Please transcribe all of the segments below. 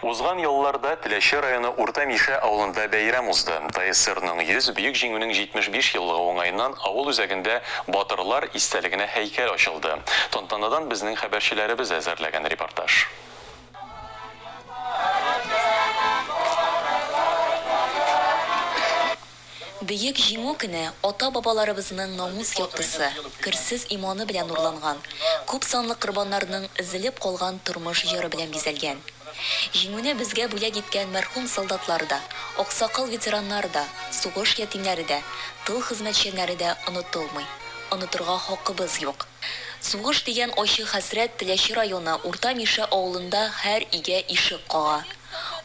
Узган елларда Теләче районы Урта Мишә авылында бәйрәм узды. ТСРның 100, Бөек Җиңүнең 75 еллыгы уңаеннан авыл үзәгендә Батырлар истәлегенә һәйкәл ачылды. Тантанадан безнең хәбәрчеләребез әзерләгән репортаж. Бөек Җиңү көне ата-бабаларыбызның намус яктысы, керсез иманы белән нурланган, күп санлы корбаннарның өзелеп калган тормыш җыры белән бизәлгән. Җиңүне безгә бүләк иткән мәрхүм солдатлар да, аксакал ветераннар да, сугыш ятимнәре дә, тыл хезмәтчәннәре дә онытылмый. Онытырга хакыбыз юк. Сугыш дигән ачы хәсрәт Теләче районы Урта Мишә авылында һәр өйгә ишек кага.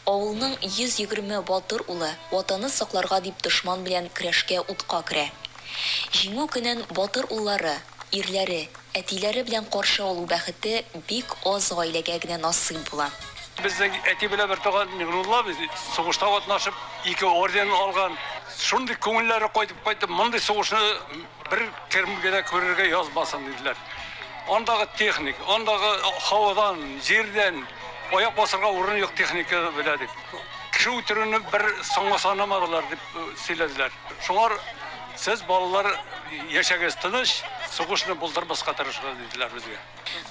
Авылның 120 батыр улы Ватаны сакларга дип дошман белән көрәшкә утка керә. Җиңү көнен батыр уллары, ирләре, әтиләре белән каршы алу бәхете бик аз гаиләгә генә насыйп була. Безнең әти белән бертуган Миңнулла абый сугышта катнашып, ике орден алган. Шундый күңелләре кайтып кайтты, мондый сугышны Бер терм генә күрергә язмасын диделәр. Андагы техник, андагы һавадан, җирдән аяк басырга урын юк техника белә дип. Кеше үтерүне бер соңга санамадылар дип э, сөйләделәр. Шуңар сез балалар яшәгез тыныч, сугышны булдырмаска тырышыгыз диделәр безгә.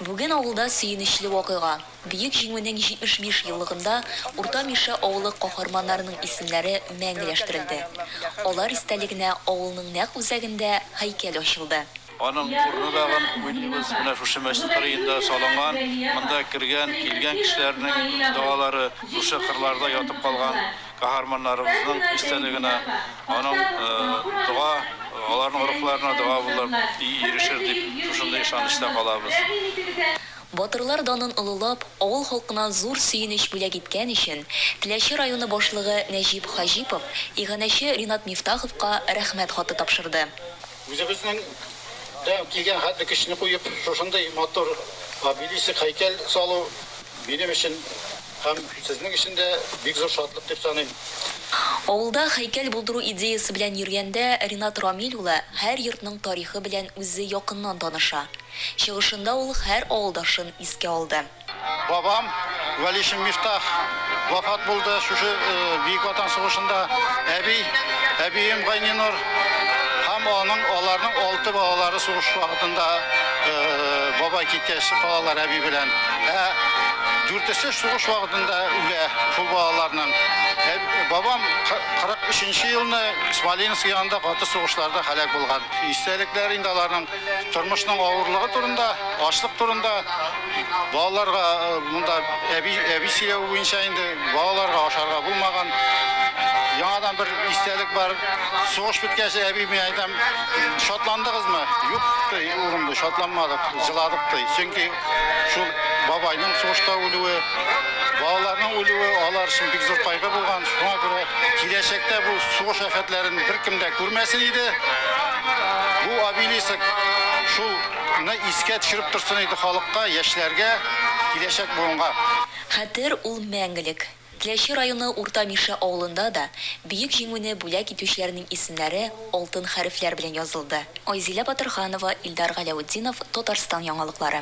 Бүген авылда сөенечле вакыйга. Бөек Җиңүнең 75 еллыгында Урта Мишә авылы каһарманнарының исемнәре мәңгеләштерелде. Алар истәлегенә авылның нәкъ үзәгендә һәйкәл ачылды. Аның урыны тагын уйлыйбыз, менә шушы мәчет кырыенда салынган, монда кергән, килгән кешеләрнең догалары, шушы кырларда ятып калган каһарманнарыбызның истәлегенә аның дога, аларның рухларына дога булып ирешер дип, шушындый ышанычта калабыз. Батырлар данын олылап, авыл халкына зур сөенеч бүләк иткән өчен Теләче районы башлыгы Нәҗип Хаҗипов иганәче Ринат Мифтаховка Рәхмәт хаты тапшырды. Үзебезнең дә килгән хәтле көчне куеп, шушындый матур обелиск, һәйкәл салу минем өчен һәм сезнең өчен дә бик зур шатлык дип саныйм. Авылда һәйкәл булдыру идеясе белән йөргәндә Ринат Рамил улы һәр йортның тарихы белән үзе якыннан таныша. Чыгышында ул һәр авылдашын искә алды. Бабам, Вәлишин Мифтах, вафат булды шушы Бөек Ватан сугышында. Әби, әбием Гайнинур һәм аның, аларның алты балалары сугыш вакытында бабай киткәч калалар әби белән. Ә дүртесе сугыш вакытында үлә шул балаларның. Бабам 43 нче елны Смоленск янында каты сугышларда һәлак булган. Истәлекләр инде аларның. Тормышның авырлыгы турында, ашлык турында балаларга монда әби әби сөйләве буенча инде балаларга ашарга булмаган. Яңадан бер истәлек бар. Сугыш беткәч, әби мин әйтәм, шатландыгызмы? Юк, ди, улым, ди, шатланмадык, җыладык, ди. Чөнки шул бабайның сугышта үлүе, балаларның үлүе алар өчен бик зур кайгы булган. Шуңа күрә киләчәктә бу сугыш афәтләрен беркем дә күрмәсен иде. Бу обелиск шул ны искә төшереп торсын иде халыкка, яшьләргә, киләчәк буынга. Хәтер ул мәңгелек. Теләче районы Урта Мишә авылында да Бөек Җиңүне бүләк итүчеләрнең исемнәре алтын хәрефләр белән язылды. Айзилә Батырханова, Илдар Галәүтдинов, Татарстан яңалыклары.